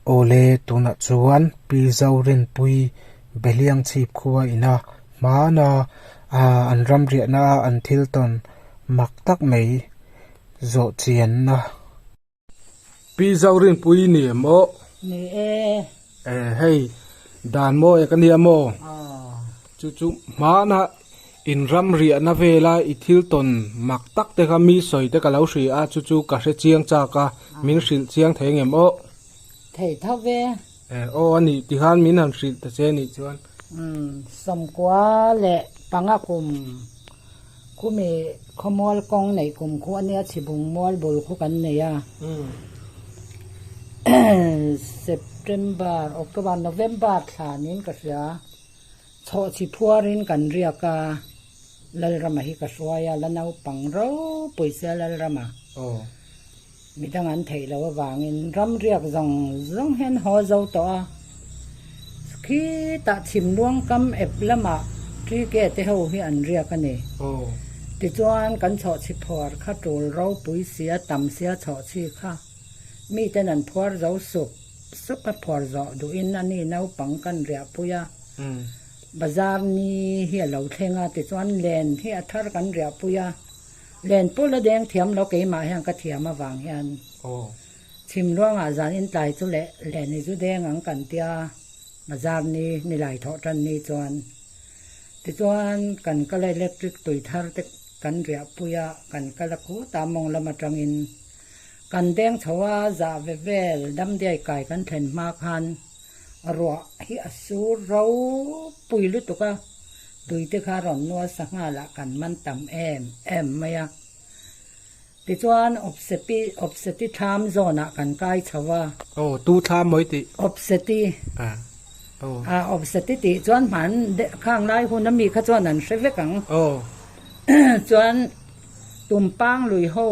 Awle tunah chuan Pi Zorinpuii Beliang chhip khuaa ina hmana an ram riahna a an thil tawn mak tak mai zawhchianna. Pi Zaurinpui ni em aw? Ni e. Eh hei dan maw e ka nia maw? Aww. Chu chu hmana in ram riahna vela i thil tawn mak tak te kha mi sawi te ka lo hria chu chu ka hre chiang chak a, min hrilh chiang thei ngem aw? Thei tho e. Eh, aw a nih tih khan min han hrilh ta che nih chuan. Umm, sawmkua leh panga kum khumi khawmual kawng neih kum khu a nia, chhibung mual bul khu kan nei a. September, October, November thlanin ka hria, chhawh chi phuarin kan riak a, Lalrama hi ka hruai a, la naupang ropui sia Lalrama. Aw. Mi dang an theih loh avangin ramriak zawng zawng hian haw zo tawh a. Khitah chhim luang kam ep lamah ṭi ke te ho hi an riak a ni. Tichuan kan chhawhchhi phuar kha ṭul ropui sia tam sia chhawhchhi kha miten an phuar zo suk suk a, phuar zawh duhin a ni naupang kan riahpui a, bazar ni hi a lo thleng a, tichuan len hi a thar kan riahpui a. Len pul a deng thiam lo keimah hian ka thiam avang hian chhim luangah zan in tlai chu leh len i zu deng ang kan tia bazar ni nilai thawh tan ni chuan tichuan kan kal electric tui thar te kan riah pui a kan kal a khut a mawng lam atang in kan deng chho a zah ve vel damdiai kai kan thlen hma khan a ruah hi a sur ropui lutuk a, tuite kha rawn nual sa nghalah kan man tam em em mai a. Tichuan Opseti, Opseti thlam zawnah kan kai chho a. Aw, tu thlam mawi tih. Opseti. Ah, aw. Ah, Opseti tih chuan hman deuh khanglai huna mi kha chuan an hre vek ang. Aw. Chuan Tumpang lui ho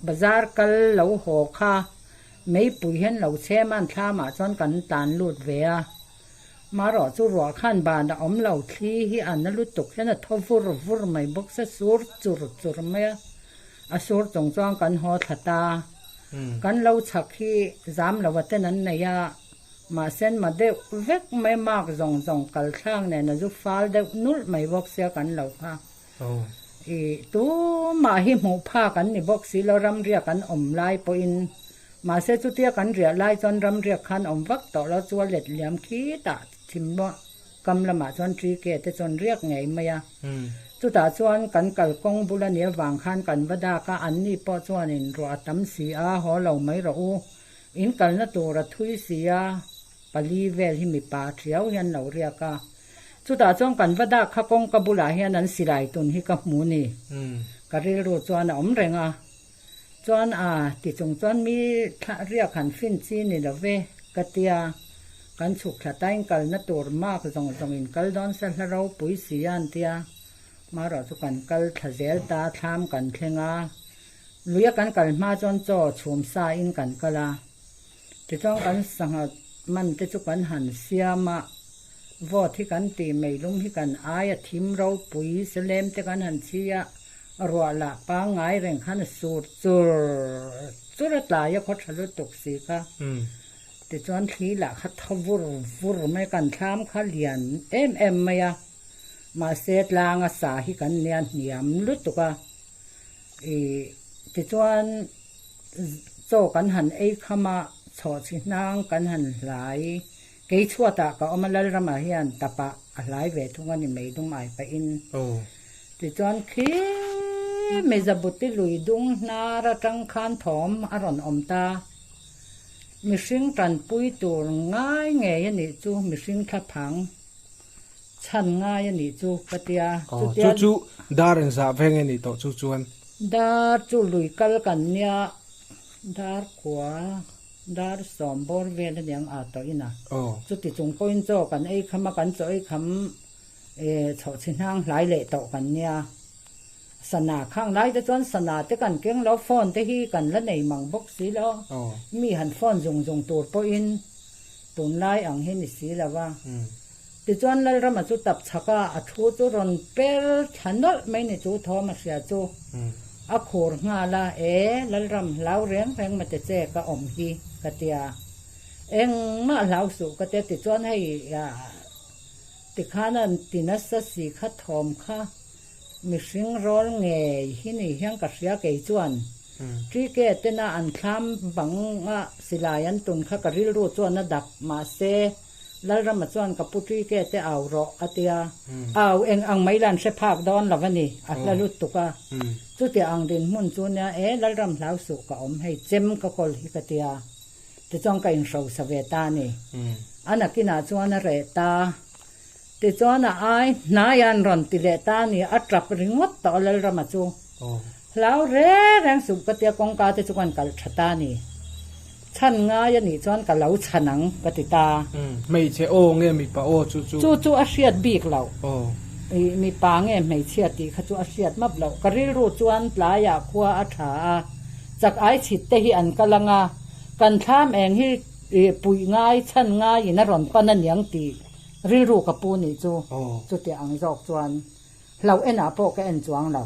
bazar kal lo haw kha. Meipui hian lo chhem a, an thlamah chuan kan tan lut ve a. Marawh chu ruah khan ban a awm lo, thli hi a na lutuk hian a thaw vur vur mai bawk se, sur chur chur mai a. A sur chung chuan kan haw thla ta. Kan lo chhak hi zam lo a ten an nei a, mahse an ma deuh vek mai, mak zawng zawng kalthlak nen a zu fal deuh nulh mai bawk sia kan lo kha. Aw. I tumah hi hmuh phak an ni bawk si lo, ramriak an awm lai pawhin. Mahse chutia kan riah lai chuan ramriak khan a awm vak tawh lo, chua let liam khitah thim luah kam lamah chuan ṭi ke te chawn riak ngei mai a. Chutah chuan kan kal kawng bul a ni avang khan kan va dak a, anni pawh chuanin ruah a tam si a, haw lo mai rawh u, in kalna tur a thui si a. Pali vel hi mipa hriau hi an lo riak a, chutah chuan kan va dah kha kawngka bulah hian an silai tun hi ka hmu ni? Ka rilru chuan a awm reng a, chuan a ti chung chuan mi thlah riak han fin chi ni lo ve ka ti a, kan chhukthla tain kalna tur mak zawng zawngin kal dawn se hla ropui si an ti a, marawh chu kan kal thla zel ta thlam kan thleng a, luia kan kal hma chuan chaw chhum sa in kan kal a. Tichuan kan sangha man te chu kan han siam a, vote hi kan ti mai lum hi kan ai a, thim ropui se lem te kan han chhi a, ruah lah pangngai reng khan a sur chur chur a tlai a khawtha lutuk si kha, tichuan thli lah kha tha vur vur mai, kan thlam kha lian em em mai a, mahse tlang a sa hi kan nia hniam lutuk a, ih tichuan. Chaw kan han ei kham a, chhawh chhi hnang kan han hlai. Kei chhuatah ka awm a, Lalramah hian tapa a hlai ve thung a ni mei dum ai pahin. Tichuan khi Mizabuti lui dung hnar atang khan thawm a rawn awm ta. Mihring tanpui tur ngai ngei a nih chu, mihring thlaphang. chhan ngai a nih chu ka tia. Aw, chu chu dar in zah ve nge nih tawh chu chuan? Dar chu lui kal kan nia, dar kua, dar sawm bawr vel a niang aa tawh in a. Aw. Chuti chung pawhin chaw kan ei kham a, kan chaw ei kham eh chhawh chhi hnang hlai leh tawh kan nia. Sana khang lai te chuan sana te kan keng lo, phone te hi kan la nei mang bawk si lo. Aw. Mi han phone zung zung tur pawhin Tunlai ang hi ni si lo va. Tichuan Lalrama chu tap chhak a, a thu chu rawn per tha nawlh mai ni chu Thawma hria chu a khur nghal a, E Lalram, hlau reng reng mate che ka awm hi, ka ti a. Engmah hlau suh ka tia tichuan hei tikhan a ti nasa si kha thawm kha. Mihring rawl ngei hi ni hian ka hria kei chuan TK tena an thlam banga silai an tun kha ka rilru chuan a dak. Mahse, Lalrama chuan ka pu TK te au rawh a ti a. Au eng ang mai la an hre phak dawn lo a ni, a hla lut tuk a. Chutia ang dinhmun chu nia e, Lalram hlau suh ka awm hei, chem ka kawl hi ka ti a. Tichuan ka inhrosa ve ta a ni. A nakinah chuan a reh ta. Tichuan a ai hnai an rawn ti leh ta a ni, a tap ringawt tawh a Lalram a chu. Hlau reng reng suh ka tia kawngka te chu kan kal tha ta a ni. Chhan ngai a nih chuan ka lo chhan ang ka ti ta. Hmeichhe aw nge mipa aw chu chu? Chu chu a hriat bik lo. I mipa nge hmeichhia tih kha chu a hriat map lo. Ka rilru chuan tlaiah khua a tha a, chak ai chhit te hi an kal anga, kan thlam eng hi puih ngai chhan ngaiin a rawn pan a niang tih. Rilru ka pu nih chu chuti ang zawk chuan hlauh enah pawh ka en chuang lo.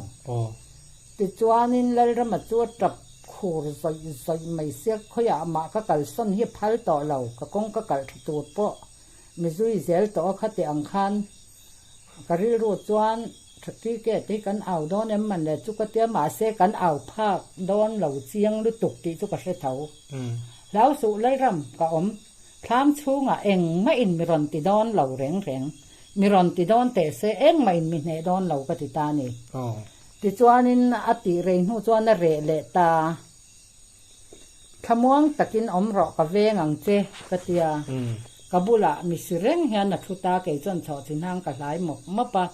Tichuanin Lalrama chu a tap khur zawih zawih mai siak khawiah amah ka kalsawn hi a phal tawh lo, ka kawng ka kalh tha tur pawh mizui zel tawh a khati ang khan ka rilru chuan Tha Cricket hi kan au dawn em man le chu ka tia mahse kan au phak dawn lo chiang lutuk tih chu ka hre tho. Hlausuh Lalram ka awm. Thlam chhungah eng mahin mi rawn ti dawn lo reng reng, mi rawn ti dawn teh se eng mahin mi hneh dawn lo ka ti ta ni. Tichuanin a tih rei hnu chuan a reh leh ta. Thlamuang takin awm rawh ka veng ang che ka ti a, ka bulah mi si reng hian a thu ta, kei chuan chhawh chi hnang ka hlai mawp mawp a.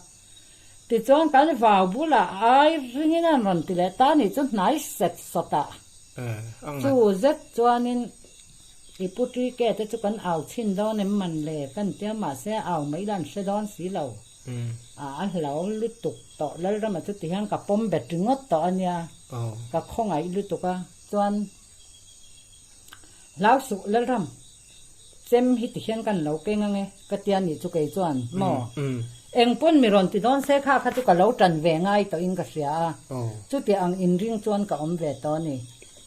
Tichuan kan vau bulah ai ringin an rawn ti leh ta ni chu hnai sat sat a. Chu zet chuanin i pu Tike te chu kan au chhin dawn em man le ka ni tia mahse au mai ila an hre dawn si lo. A a hlo lutuk tawh Lalrama chuti hian ka pawm bet ringawt tawh a nia, ka khawngaih lutuk a chuan hlau suh Lalram. Chem hi ti hian kan lo keng ange ka tia ni chu kei chuan maw eng pawn mi rawn ti dawn se kha kha chu ka lo tan ve ngai tawh in ka hria a, chuti ang in ring chuan ka awm ve tawh a ni,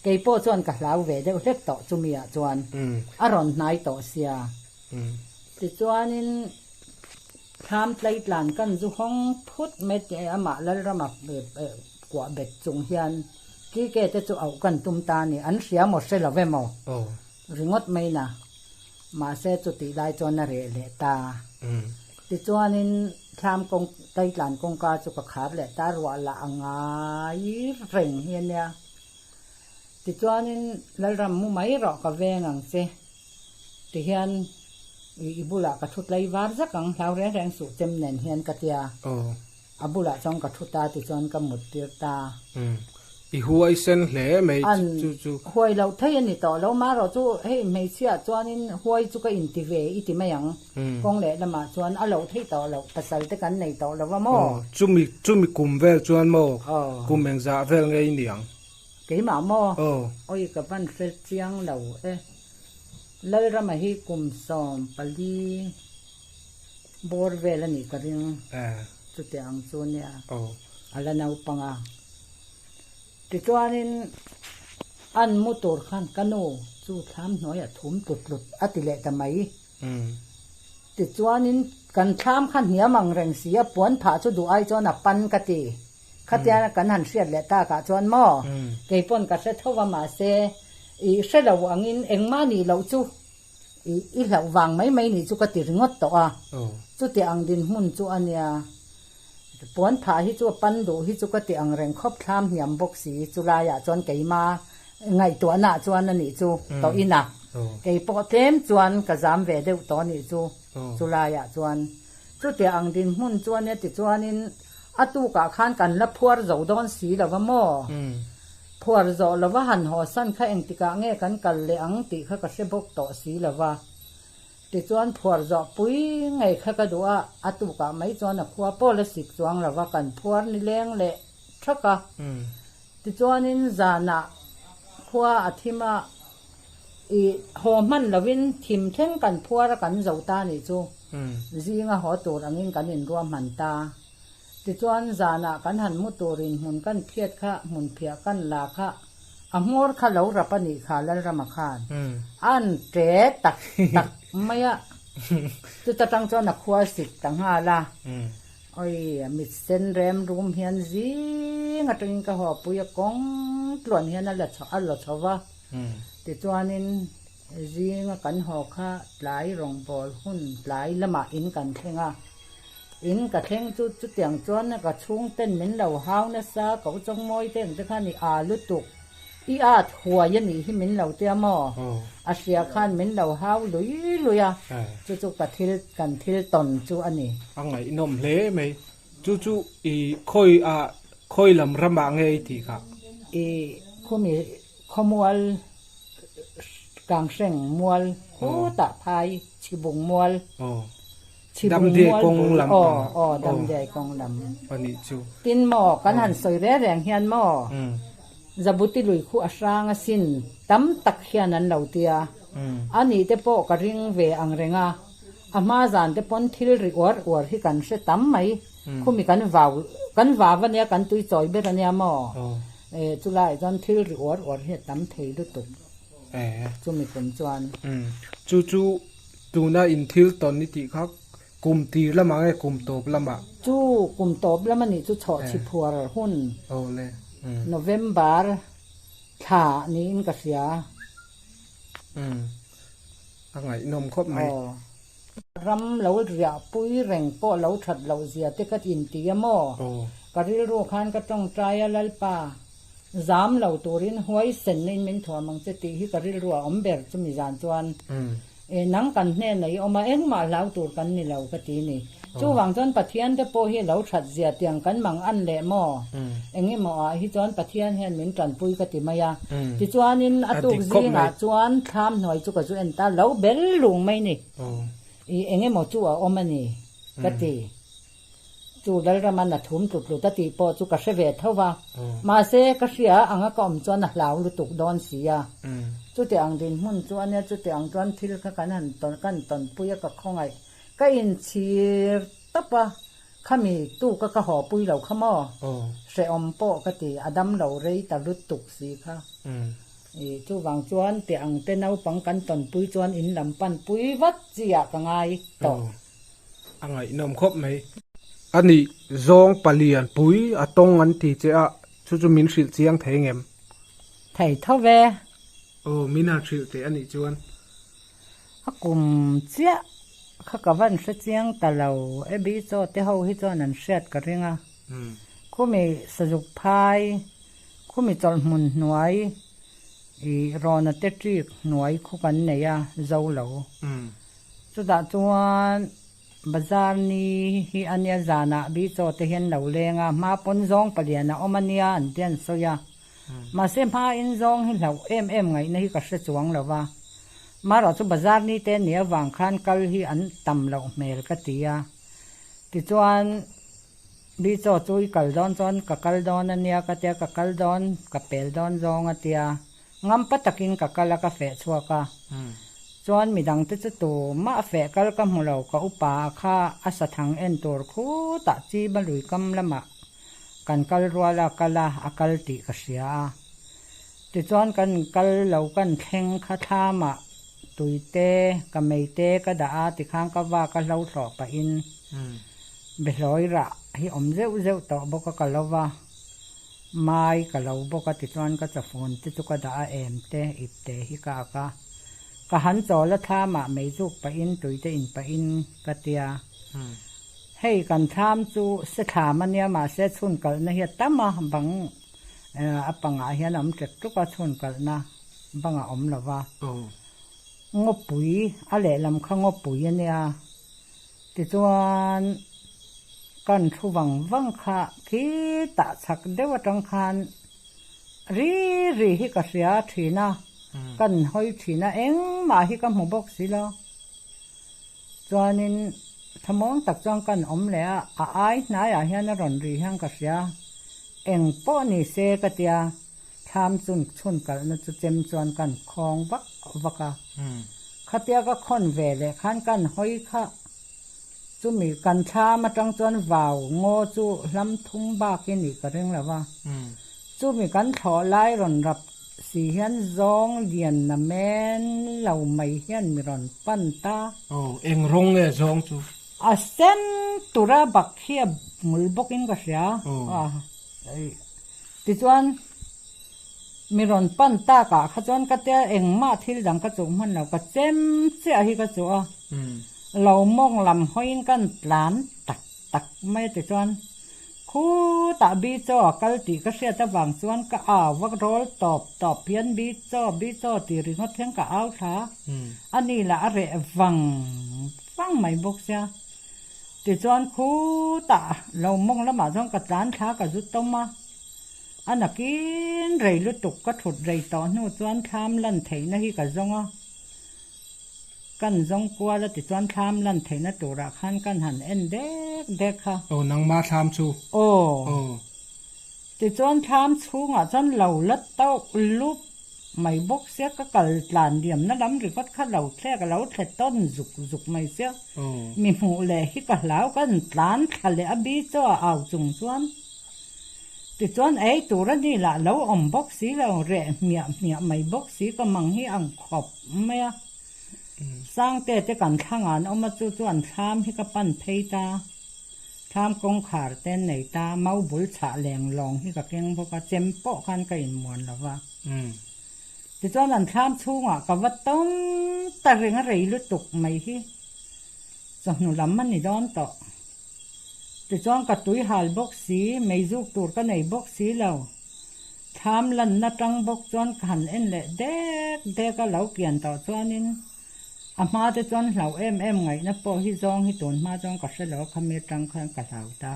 kei pawh chuan ka hlau ve deuh hlek tawh chumi ah chuan a rawn hnai tawh sia. Tichuan in thlam tlaitlan kan zu hawng phut mai ti e amah Lalram a kuah bet chung hian kike te chu auh kan tum ta a ni an hria maw hre lo ve maw? Ringawt mai na. Mahse chutih lai chuan a reh leh ta. Tichuanin thlam kawng, taitlan kawngka chu ka khar leh ta, ruah la a ngai reng hi ania. Tichuanin Lalram mu mai erawh ka veng ang che tihian i bulah ka thutlai var vek ang, hlau reng reng suh chem nen hian ka tia. A bulah chuan ka thu ta tichuan ka mut tir ta. Umm. I huai sen hle mai chu chu. An huai loh thei a ni tawh lo. Marawh chu hei hmeichhiah chuanin huai chu ka inti ve i ti mai ang. Kawng leh lamah chuan a loh thei tawh loh, pasalte kan nei tawh lova maw? Aw, chumi chumi kum vel chuan maw? Aw. Kum engzah vel ngei ni ang. Keimah maw? Aw. Awi ka van fel chiang lo e. Lalrama hi kum sawm pali Bawr vel a nih ka ring. Chutiang ang chu nia a la naupanga. Tichuanin an mu tur khan ka nu chu thlam hnuaiah thum tlut tlut a ti leh ta mai. Tichuanin kan thlam kha hniam ang reng si a, puan phah chu duh ai chuan a pan ka ti. Khatiang kan han hriat leh tak ah chuan maw kei pawn ka hre tho va mahse i hre lo angin engmah nih loh chu I hlauh vang mai mai nih chu ka ti ringawt tawh a, chuti ang dinhmun chu a nia. Puan phah hi chu a pan duh hi chu ka ti ang reng khawp thlam hniam bawk si. Chulaiah chuan keima ngaihtuahna chuan a nih chu tawh ina, kei pawh tlem chuan ka zam ve deuh tawh a nih chu. Chu laiah chuan chutia ang dinhmun chu ania ti chuanin a tukah khan kan la phuar zo dawn si lova maw? Phuar zawh lova han haw san kha engtikah nge kan kal leh ang tih kha ka hre bawk tawh si lova. Tichuan phuar zawh pui ngei kha ka duh a, a tukah mai chuan a khua pawl a sik chuang lova kan phuar ni leng leh thak a. Tichuanin zanah khua a thim a, i haw hman lovin thim thleng kan phuar a kan zo ta nih chu zinga haw tur angin kan inruahman ta. Tichuan zanah kan han mu turin hmun kan phiat kha, hmunphiah kan la kha, a hmawr kha lo rap a nih kha Lalrama khan an ṭe tak tak mai a. Chuta ṭang chuan a khua sik ta nghal a. Awi, a mitsen rem rum hian zing atangin ka hawipuii a kawng tluan hian a la chho va, tichuanin zinga kan haw kha tlai rawngbawl hun tlai lamah in kan thleng a, in ka thleng chu chutiang chuan ka chhungten min lo hau nasa, ka uchawng mawite ang te khan i aa lutuk. I at huai a nih hi min lo tia maw? A hria khan min lo hau lui lui a, chu chu ka thil, kan thil tawn chu a ni. A ngaihnawm hle mai. Chu chu i khawi a, khawi lam ramah nge i tih kha? I khumi khawmual Kanghreng mual khutah phai chhibung mual. Damdiai kawng lam pang ah aw Damdiai kawng lam a nih chu. Tin maw kan han sawi reng reng hian maw Jabuti lui khuh a hrang a sin tam tak hian an lo ti a, a nih te pawh ka ring ve ang reng a, a hma zan te pawn thil ri uar uar hi kan hre tam mai, khumi kan vau kan vau a nia kan tui chawi ber a nia maw e chu lai chuan thil ri uar uar hi a tam thei lutuk chumi kum chuan. Chu chu Tuna in thil tawn ni tih kha kum tir lamah nge kum tawp lamah? Chu kum tawp lam anih chu chhawh chhiphuar hun November thla niin ka hria. A ngaihnawm khawp mai. Ram lo riah pui reng pawh lo that loh zia te ka inti a maw? Ka rilru khan ka tawngtai a Lalpa. Zam lo turin huaisenna in min thuam ang che tih hi ka rilruah awm ber chumi zan chuan eh nang kan hnenah i awm a, engmah hlau tur kan ni lo ka ti ni. Chuvang chuan Pathian te pawh hi lo that zia tiang kan mang an leh maw? Eng emaw ah hi chuan Pathian hian min tanpui ka ti mai a. Tichuanin a tuk zingah chuan thlam hnuai chu ka zu en ta lo bel lung mai ni. I eng emaw chu a awm a ni ka ti. Chu Lalrama na thum tlut tlut a tih pawh chu ka hre ve tho va, mahse ka hria ang a ka awm chuan a hlau lutuk dawn si a, chutiah ang dinhmun chu ania chutiah ang chuan thil kha kan han tawn kan tawnpui a ka khawngaih ka inchhir tawp a, khami tu ka ka haw pui lo kha maw, hrehawm pawh ka ti a dam lo rei ta lutuk si kha i, chuvang chuan tiah ang te naupang kan tawnpui chuan in lam panpui vat chi ah ka ngai tawh. a ngaihnawm khawp mai. A nih zawng palian pui a tawng an ti che a, chu chu min hrilh chiang thei ngem? Thei tho ve. Aw, mina hrilh teh a nih chuan. A kum chiah, kha ka van hre chiang ta lo, Abby chaw te ho hi chuan an hriat ka ring a, khumi sazuk phai, khumi chawlhmun hnuai, ih, rawna te ṭik hnuai khaw kan nei a, zo lo. Chutah chuan bazar ni hi a nia zanah Bichaw te hian lo leng a, hma pawn zawng palian a awm a nia an tih a ni sawi a. Mahse hma in zawng hi hlauh em em ngaihna hi ka hre chuang lo va, mahra chu bazar ni te ni avang khan kal hi an tam loh hmel ka ti a. Tichuan Bichaw chu i kal dawn chuan ka kal dawn a nia ka tia ka kal dawn ka pel dawn zawng a tia. Ngampa takin ka kal a ka feh chhuak a, chuan midang te chu tumah feh kal ka hmu lo ka upa a kha a sathang en tur khutah chima lui kam lamah kan kal rual a kal a a kal tih ka hria a tichuan kan kal lo kan thleng kha thlamah tui te ka mei te ka dah a tikhan ka va ka hlo thlawh pahin bihlawirah hi awm zeuh zeuh tawh bawk a ka lo va. Mai ka lo bawk a ti chuan ka cha phone te chu ka dah a em te ip te hi ka ak a, ka han chawl a thlam ah mei zuk pah in tui te in pah in ka tia, hei kan thlam chu se thlam a nia mahse chhun kal na hi a tam a bang a pangah hian a awm tlek tluk a chhun kal na bang a awm lo va, ngawpui a lehlam kha ngawpui a nia Tichuan, kan thu vang vang kha khi tah chhak deuh atang khan ri ri hi ka hria thin a, kan hawi thin a, engmah hi ka hmu bawk si lo. Chuanin thlamawn tak chuan kan awm leh a, a ai hnaiah hian a rawn ri hian ka hria, eng pawh ni se ka tia. Thlam chun chhun kalhna chu chem chuan kan khawng vak vak a. Khatia ka khawn ve leh khan kan hawi khah. Chumi kan thlam atang chuan vau ngaw chu hlam thum bak i nih ka ring lo va. Chumi kan thlawh lai rawn rap si hian zawng lian na men lo mai hian mi rawn pan ta. Aw, eng rawng nge zawng chu? A sen tura bak hi a hmul bawk in ka hria. Aw. Tichuan, mi rawn pan takah kha chuan ka tia engmah thil dang ka chuh hman lo, ka chem chiah hi ka chuh a, lo mawng lam hawiin kan tlan tak tak mai tichuan khutah Bichaw a kal tih ka hriat avang chuan ka au vak rawl tawp tawp hian Bichaw, Bichaw tih ringawt hian ka au thla a, ani lah a reh vang vang mai bawk sia. Tichuan khutah lo mawng lamah chuan ka tlan thla ka zut tawm a, a nakin rei lutuk ka thut rei tawh hnu chuan thlam lan theihna hi ka zawng a, kan zawng kual a tichuan thlam lan theihna turah khan kan han en dek dek kha. Aw nangma thlam chu? Aw. Aw. Tichuan thlam chhungah chuan lo la tawk lup mai bawk sia, ka kal tlan diamna lam rikawt kha lo thlek a lo thlet tawn zuk zuk mai sia. Mi hmuh leh hi ka hlau ka en tlan thla leh a bi chaw a au chung chuan. Tichuan ei tur a ni lah lo awm bawk si lo, reh hmiah hmiah mai bawk si ka mang hi ang khawp mai a. Sangte te kan thla ngan awm a chu chuan thlam hi ka pan phei ta. Thlam kawngkhar ten nei ta, mau bul chhah leng lawng hi ka keng bawk a, chem pawh khan ka inmuan lo va. Tichuan an thlam chhungah ka va tawng ta reng a rei lutuk mai hi chawhnu lam a ni dawn tawh. Tichuan ka tui hal bawk si, mei zuk tur ka nei bawk si lo. Thlam lanna tang bawk chuan ka han en leh dek dek a, lo kian tawh chuanin. A hma te chuan hlauh em em ngaihna pawh hi zawng hi tun hma chuan ka hre lo khami atang khan ka hlau ta.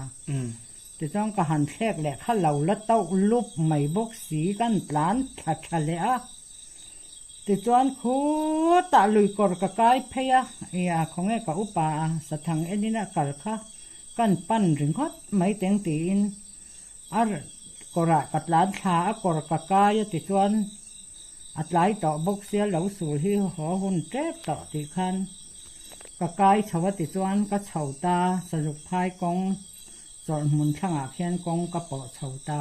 Tichuan ka han thlek leh kha lo la tauh lup mai bawk si kan tlan tha tha leh a. Tichuan khutah lui kawr ka kai phei a, ia khawnge ka upa a sathang enin a kal kha kan pan ringawt mai teng tiin a kawrah ka tlan thla a kawr ka kai a tichuan, a tlai tawh bawk sia lo sul hi haw hun tep tawh tih khan ka kai chho a ti chuan ka chho ta sanuk phai kawng chawrh hmun thlangah khian kawng ka pawh chho ta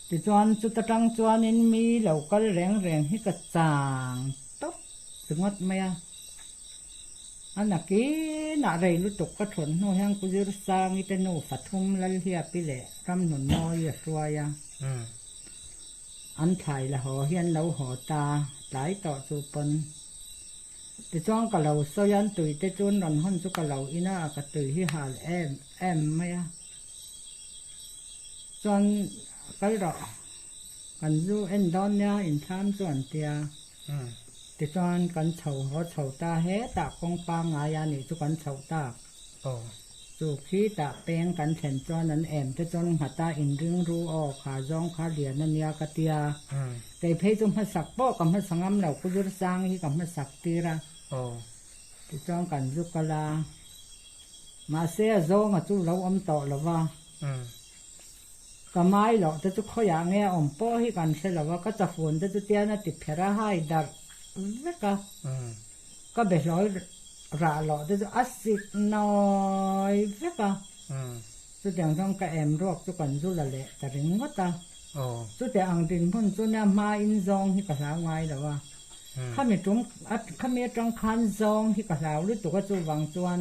ti chuan chuta tang chuanin mi lo kal reng reng hi ka chang tawp ringawt mai a a nakinah rei lutuk ka thawn hnu hian Ku Zirsangi te nu Fathum Lalhiapi leh Ramnunmawii a hruai a. An thlai la haw hi an lo haw ta, tlai tawh chu pawn. Tichuan ka lo sawi a, tui te chu an rawn hawn chu ka lo in a, ka tui hi hal em em mai a. Chuan kal rawh, kan zu en dawn nia inthlam chu an ti a. Tichuan kan chho haw chho ta hetah kawngpa ngai a nih chu kan chho tak. Aw. Chu khi tah peng kan thlen chuan an em te chuan nghat a, in ringru aw kha zawng kha lian a nia ka ti a. Kei phei chu hmasak pawh ka hmasa ngam lo, Ku Zirchang hi ka hmasak tir a. Aw. Ti chuan kan zu kal a. Mahse a zawnga chu lo awm tawh lo va. Ka mai loh te chu khawiah nge a awm pawh hi kan hre lo a, ka chafun te chu tian a ti pher a, hai darh vek a. Ka behlawl rah loh te chu a sik nawi vek a, chutiang chuan ka em ruak chu kan zul a leh ta ringawt a. Chutiah ang dinhmun chu nia hma in zawng hi ka hlau ngai lo a, khami tum khami atang khan zawng hi ka hlau lutuk a chuvang chuan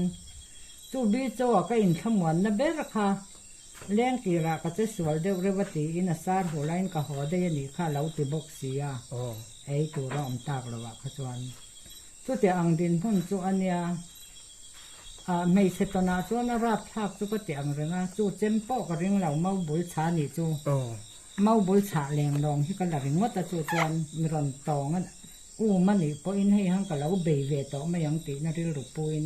chu Bee Chaw-a ka inthla muanna ber kha Leng tirah ka che sual deuh reuh a tiin a sar hu lahin ka haw daih a nih kha a lo ti bawk si a, ei tur a awm tak lo ah kha chuan chutiah ang dinhmun chu a nia, ah hmeichhe tawnah chuan a rap thlak chu ka ti ang reng a, chu chem pawh ka ring lo mau bul chha nih chu, mau bul chhah leng lawng hi ka la ring ngawt a chu chuan mi rawn tawng a um a nih pawhin hei han ka lo bei ve tawh mai ang tihna rilru puin,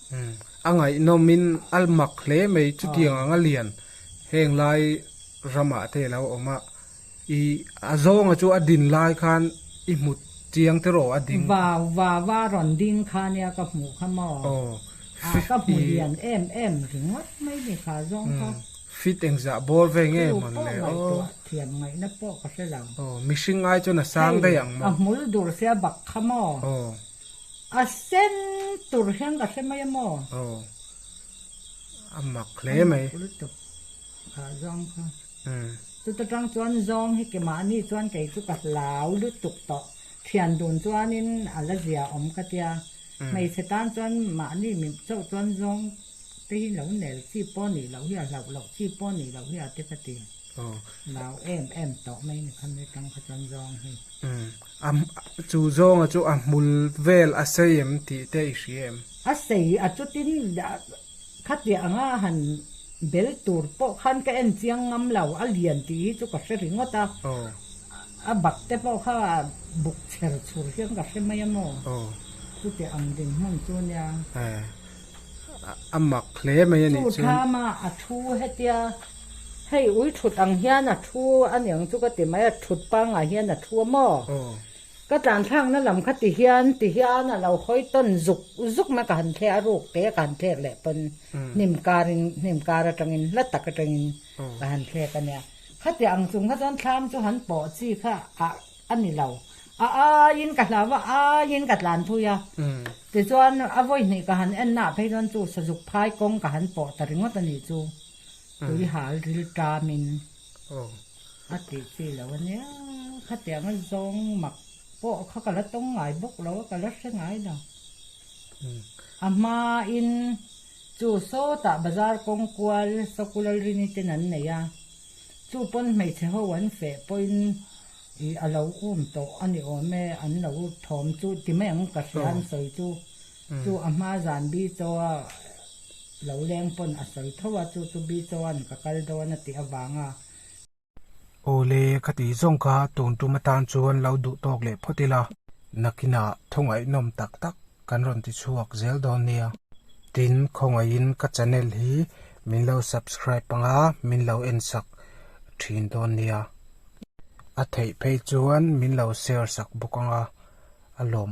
A ngaihnawmin a mak hle mai chutiang ang a lian. Heng lai ramah te lo awm a, i a zawnga chu a din lai khan i hmut chiang tiraw a ding. Vau, vava rawn ding kha nia ka hmuh kha maw. Aw, a ka hmu lian em em ringawt mai ni kha zawng kha. Fit engzah bawr ve nge maw le aw. Thu pawh ngaih tawh a thiam ngaihna pawh ka hre lo. Aw, mihring ai chuan a sang daih ang maw. Hei, a hmul dur sia bak kha maw. Aw. A sen tur hian ka hre mai a maw? Aw. A mak hle mai. A mak bul tawp a zawng kha. Umm. Chuta tang chuan zawng hi ke mah ni chuan kei chu ka hlau lutuk tawh. Thian dun chuanin a la zia awm ka tia. Hmeichhe tan chuan mahni mi chauh chuan zawng te hi lo nel chi pawh nih loh hi a hlauh loh chi pawh nih loh hi a ti ka ti. Hlau em em tawh mai ni kha mi tang kha chuan zawng hi. A chu zawnga chu a hmul vel a sei em tih te i hria em? A sei a chutin khatiah anga han bel tur pawh khan ka en chiang ngam lo a lian tih hi chu ka hre ringawt a, a bak te pawh kha buk chher chhur hian ka hre mai a maw chutiah ang dinhmun chu nia. A mak hle mai a nih chuan. Chu thlama a thu hetia Hei ui thut ang hian a thu a ni ang chu ka ti mai a, thut pangah hian a thu a maw? Ka tlanthlakna lam kha ti hian ti hian a lo hawi tawn zuk zuk na ka han thleh a, ruk te ka han thlek leh pawn hnim karin hnim kar atangin hla tak atangin ka han thlek a nia. Khatiah ang chung kha chuan thlam chu han pawh chi kha a a ni lo, a aiin ka hlau a, aiin ka tlan thui a, tichuan a vawi hnih ka han ennaah phei chuan chu sazuk phai kawng ka han pawh ta ringawt a nih chu. Tuihal ril tam in a tih chi lo a nia, khatiang a zawng mak pawh kha ka la tawng ngai bawk lo a, ka la hre ngai lo. A hma in chu sawtah bazar kawng kual Soku Lalrini ten an nei a, chu pawn hmeichhe ho an feh pawhin ih a lo um tawh a ni awm e, an lo thawm chu ti mai ang ka hria an sawi chu. Chu a hma zan Bichawa lo leng pawn a sawi tho a, chu chu Bichawa'n ka kal dawn a tih avang a. Awle, ka tih zawng kha tun tum atan chuan lo duh tawk leh phawt ila, nakinah thawngaihnawm tak tak kan rawn ti chhuak zel dawn nia. Tin, khawngaihin ka channel hi min lo subscribe panga min lo en sak thin dawn nia. A theih phei chuan min lo share sak bawk anga a lawm.